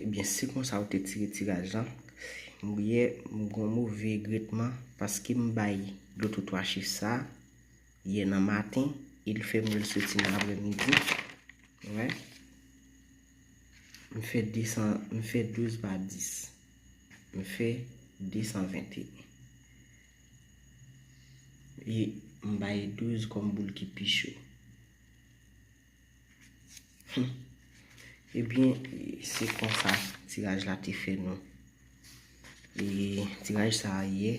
Ebyen se konsa ou te tire tiraj lan? Mouye m gon move regretman paske m bay dlo twotwa che sa yè nan maten e li fè m wè l soti nan aprè midi. Wè. M fè 200, m fè 12 pa 10. M fè 221. E m bay 12 kòm boul ki pi cho. Ebyen se konsa tiraj la te fè nou. E tiraj sa a ye.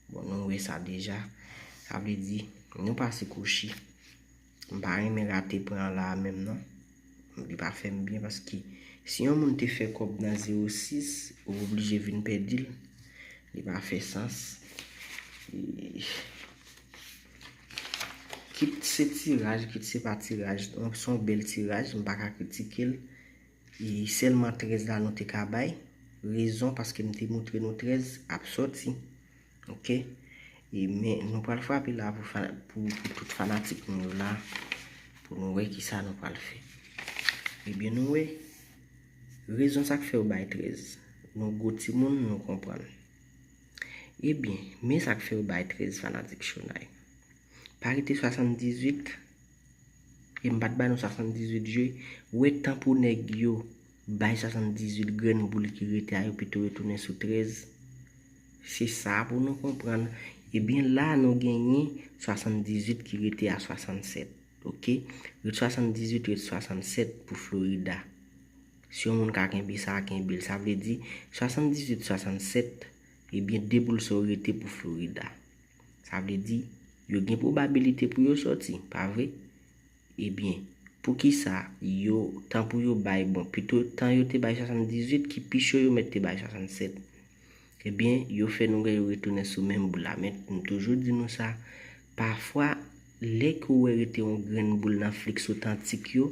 Bon nou wè sa deja. Sa vle di nou pase kouchi. M pa renmen rate pwen an la a menm non. M li pa fè m byen paske si yon moun te fè kòb nan 06 ou oblije vin pèdi l. Li pa fè sans. Kit se tiraj, kit se pa tiraj. Donk se yon bèl tiraj, m pa ka kritike l. E sèlman 13 la nou te ka bay. Rezon paske m te montre nou 13 ap soti. Ok. E men nou pral frape la pou tout fanatik nou yo la. Pou nou wè ki sa nou pral fè. E ben nou wè. Rezon sa k fè yo bay 13. Nou gwo timoun nou konprann. Ebyen, men sa k fè yo bay 13 fanatik Shonay. Pa rete 78, e m pa t ba nou 78 je, wè tan pou nèg yo bay 78 grenn boul ki rete a yo pito yo tounen sou 13. Se sa pou nou konprann. Ebyen la nou genyen 78 ki rete a 67. Ok. Ret 78 ret 67 pou Florida. Si yon moun ka kenbe sa, kenbe l. Sa vle di, 78, 67, ebyen 2 boul sa yo rete pou Florida. Sa vle di, yo gen pwobabilite pou yo sòti, pa vre? Ebyen, poukisa yo, tan pou yo bay, bon, pito tan yo te bay 78 ki pi cho yo mèt te bay 67. Ebyen, yo fè nou wè yo retounen sou menm boul la. Men, m toujou di nou sa, pafwa, lè ke w wè rete yon grenn boul nan fliks otantik yo,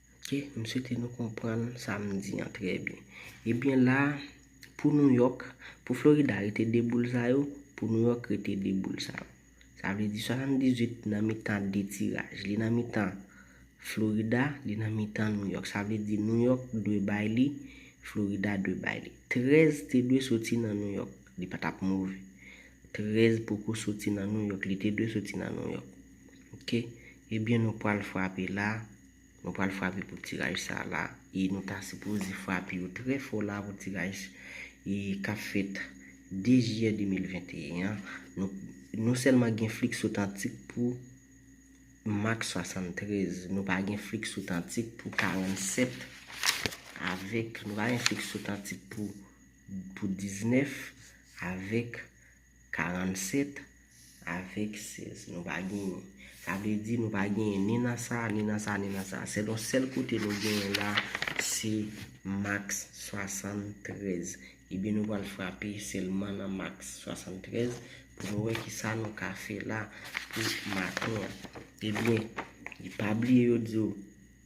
Ok, m swete nou konprann sa m di an trè byen. Ebyen la, pou New York, pou Florida rete 2 boul sa yo, pou New York rete 2 boul sa yo. Sa vle di 78 nan mitan 2 tiraj. Li nan mitan Florida, li nan mitan New York. Sa vle di New York dwe bay li, Florida dwe bay li. 13 te dwe soti nan New York. Li pa t ap move. 13 poko soti nan New York. Li te dwe soti nan New York. Ok, ebyen nou pral frape la. Nou pral frape pou tiraj sa la e nou ta sipoze frape yo trè fò la pou tiraj e kap fèt 2 jiyè 2021 an nou nou sèlman gen flix otantik pou mak 73 nou pa gen flix otantik pou 47 avèk nou pa gen flix otantik pou pou 19 avèk 47 avèk 16 nou pa genyen. Sa vle di nou pa genyen ni nan sa, ni nan sa, ni nan sa. Selon sèl kote nou genyen la, se max 73. Ebyen nou pral frape sèlman nan max 73 pou nou wè kisa nou ka fè la pou maten an. Ebyen, pa bliye yo di w.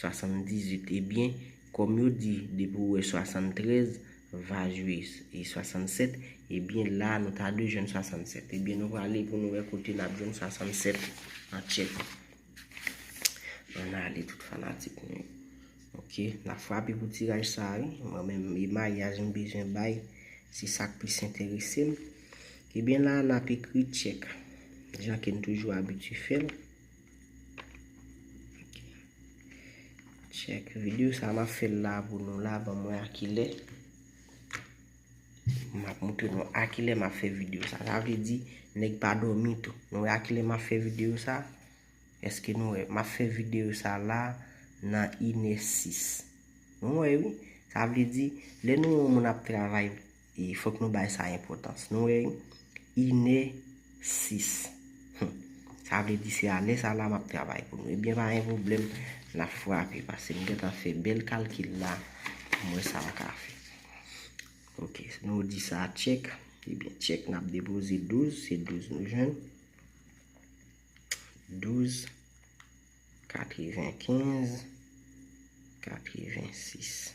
78 ebyen kòm yo di depi ou wè 73 va jwe 67 ebyen la nou ta dwe jwenn 67 ebyen nou prale pou nou wè kote nap jwenn 67 an tchèk ann ale tout fanatik mwen yo ok nap frape pou tiraj sa wi mwen menm e maryaj m bezwen bay se sak plis enterese m ebyen la nap ekri tchèk jan kem toujou abitye fèl. Check video sa map fè la pou nou la ban mwen a ki lè map moutre nou a ki lè map fè video sa sa vle di nèg pa dòmi tou nou wè a ki lè map fè video sa eske nou wè map fè video sa la nan inè 6 nou wè wi sa vle di lè nou wè yon moun ap travay E fòk nou bay sa enpòtans. Nou wè? Inè sis. Hum. Sa vle di se a lè sa la m ap travay pou nou. Ebyen pa gen pwoblèm. N ap frape. Pase m gen tan fè bèl kalkil la pou m wè sa m ka fè. Ok. Nou di sa tchèk. Ebyen tchèk n ap depoze 12. Se 12 nou jwenn. 12. 95. 86.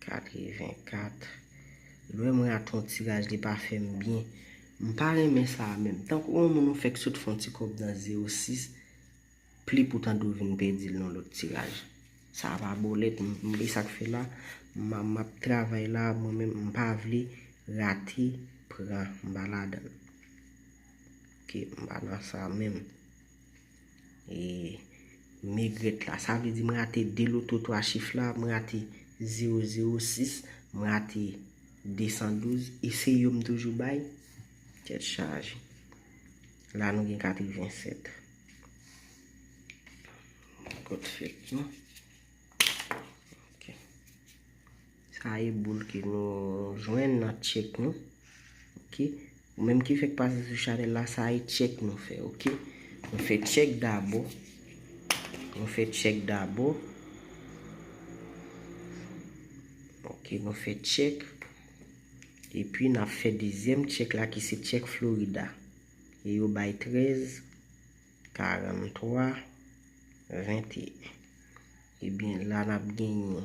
84 lwe mwen a ton tiraj li pa fem byen m pa renmen sa a menm tankou yon moun ou fek sot fon ti kob nan 06 pli pou tande ou vin pedil nan lot tiraj sa a pa bolet m e sak fe la map travay la mwen menm m pa vle rate pran m pa ladann ok m pa nan sa menm. E megrèt la. Sa vle di m rate 2 loto 3 chif la, m rate 006, m rate 212 e se yo m toujou bay? Tèt chaje. La nou gen 87. Kot fèt nou. Ok. Sa a e boul ke nou jwenn nan check nou ok. Ou menm ki fèk pase sou chanèl la sa a e check nou fè ok. Nou fè check dabò. Nou fè check dabò. Ok nou fè check. E pi na fè dezyèm check la ki se check Florida. E yo bay 13, 43, 21. E bin la nap genyen.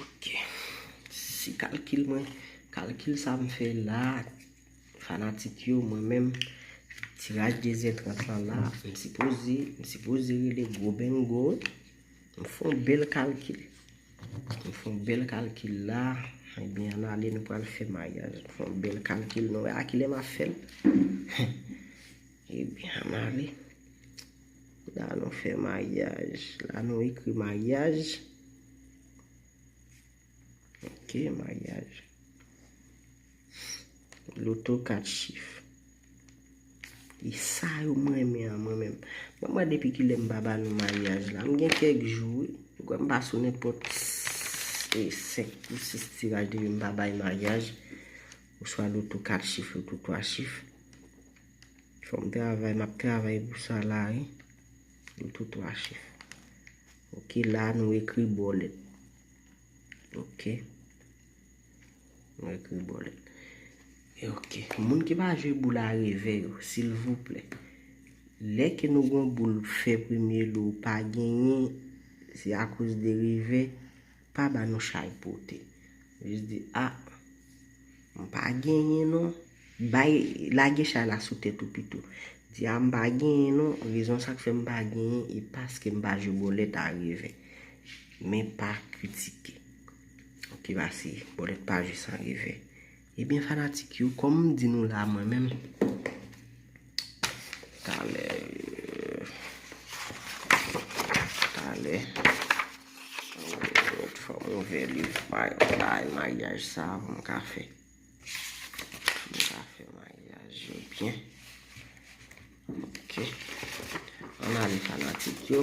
Ok. Si kalkil mwen, kalkil sa m fè la, fanatik yo, mwen menm, tiraj dezyèm trant lan la, m sipoze, m sipoze rele gwo bengo. M fon bèl kalkil. M fon bèl kalkil la. Mwen byen an ale nou pral fè mayaj. M fon bèl kalkil nou. A kilè m a fèl? Ebyen an ale. La nou fè maryaj. La nou ekri maryaj. Ok, maryaj. Loto 4 chif. E sa yo m renmen an mwen menm. Mwen mwen depi ki lè m pa ba nou maryaj la. M gen kèk jou wi. M kwè m pa sou nenpòt 5 pou 6 tiraj depi m pa bay maryaj. Oswa loto 4 chif, loto 3 chif. Fòm travay map travay pou sa la wi. Yo tou 3 chif. Ok la nou ekri bòlèt. Ok. Nou ekri bòlèt. E ok. Moun ki pa jwe boul a revè yo. Silvouplè. Lè ke nou gon boul fè premye lou pa genyen. Se akouz de revè. Pa ba nou chay pote. Jis di a. M pa genyen non. Bay, lage chay la sou tèt ou pito. Di a m pa genyen non, rezon sa k fè m pa genyen e paske m pa jwe bòlèt a revè. Men pa kritike. Ki va si bòlèt pa jwe san revè. Ebyen fanatik yo kòm m di nou la mwen menm talè talè fò m ouvè liv bagay maryaj sa pou m ka fè pou m ka fè maryaj yo byen ok ann ale fanatik yo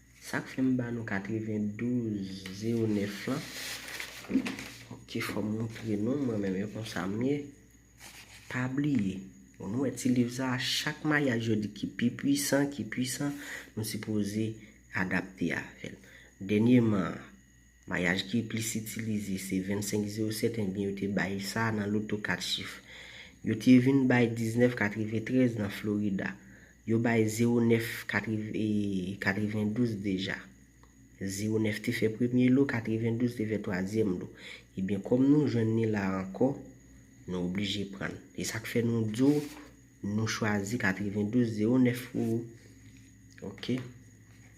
Sak fè m ba nou 92 09 lan ok fòm moutre nou mwen menm yo konsa m ye pa bliye bon nou wè ti liv sa chak mayaj yo di ki pi pwisan ki pwisan nou sipoze adapte avèl dènyeman an. Mayaj ki plis itilize se 2507 enben yo te bay sa nan loto 4 chif. Yo te vin bay 1993 nan Florida. Yo bay 09 92 deja. 09 te fè premye lo, 92 te fè twazyèm lo. Ebyen kòm nou jwenn ni la ankò, nou oblije prann. E sa k fè nou di w nou chwazi 92 09 pou ou. Ok.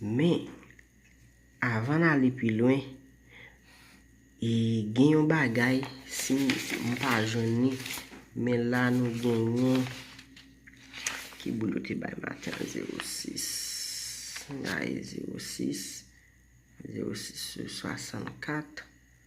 Men, avan n ale pi lwen, e gen yon bagay, si m pa jwenn li, men la nou genyen, ki boul yo te bay maten an, 06, m gaye 06, 06 sou 64,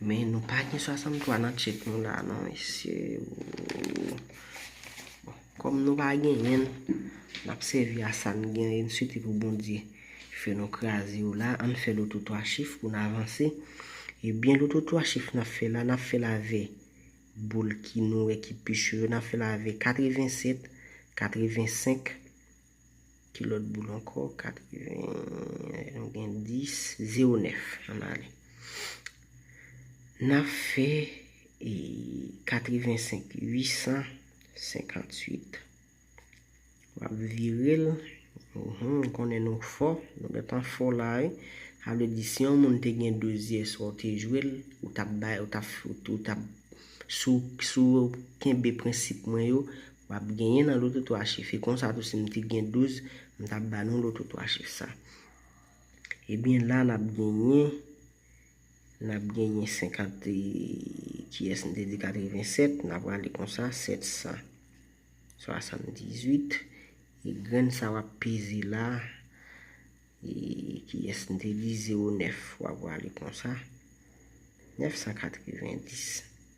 Men nou pa gen 63 nan tchek nou la non mesye ooh. Bon, kòm nou pa genyen, n ap sèvi a sa n genyen, n swete pou Bondye fè nou kraze yo la. An n fè loto 3 chif pou n avanse. Ebyen loto 3 chif n ap fè la, n ap fè l avè boul ki nou wè ki pi cho yo. N ap fè l avè 87, 85. Ki lòt boul ankò? 80 Nou gen 10 Zero 9 An n ale N ap fè 85 858 W ap vire l M konnen nou fò Nou gen tan fò la wi Sa vle di si yon moun te gen 2 zyè swa ou te jwe l Ou t ap bay Ou t ap Sou kenbe prensip mwen yo Wap genyen nan loto 3 chif e konsa tou sim t gen 12 m tap ba nou loto 3 chif sa ebyen la nap genyen nap genyen 50 e kiyès m te di 87 nap rale konsa 778 e grenn sa wap peze la e kiyès m te di 09 wap rale konsa 990.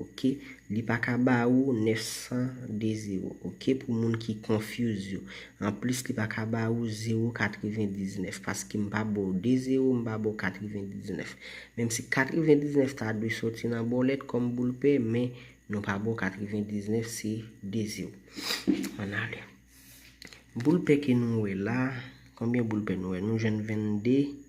Ok li pa ka ba ou 900 de zero ok pou moun ki confuse yo anplis li pa ka ba ou zero 99 paske m pa ba w de zero m pa ba w 99 menm si 99 ta dwe soti nan bòlèt kòm boul pè men nou pa ba w 99 se de zero an ale boul pè ke nou wè la konbyen boul pè nou wè nou jwenn 22.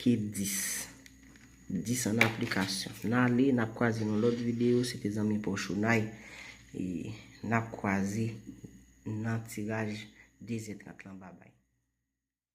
Ke 10. 10 an aplikasyon. N ale, n ap kwaze nan lòt videyo. Se te zanmi pa w Chounay. E n ap kwaze nan tiraj dezyèm trak lan. Babay.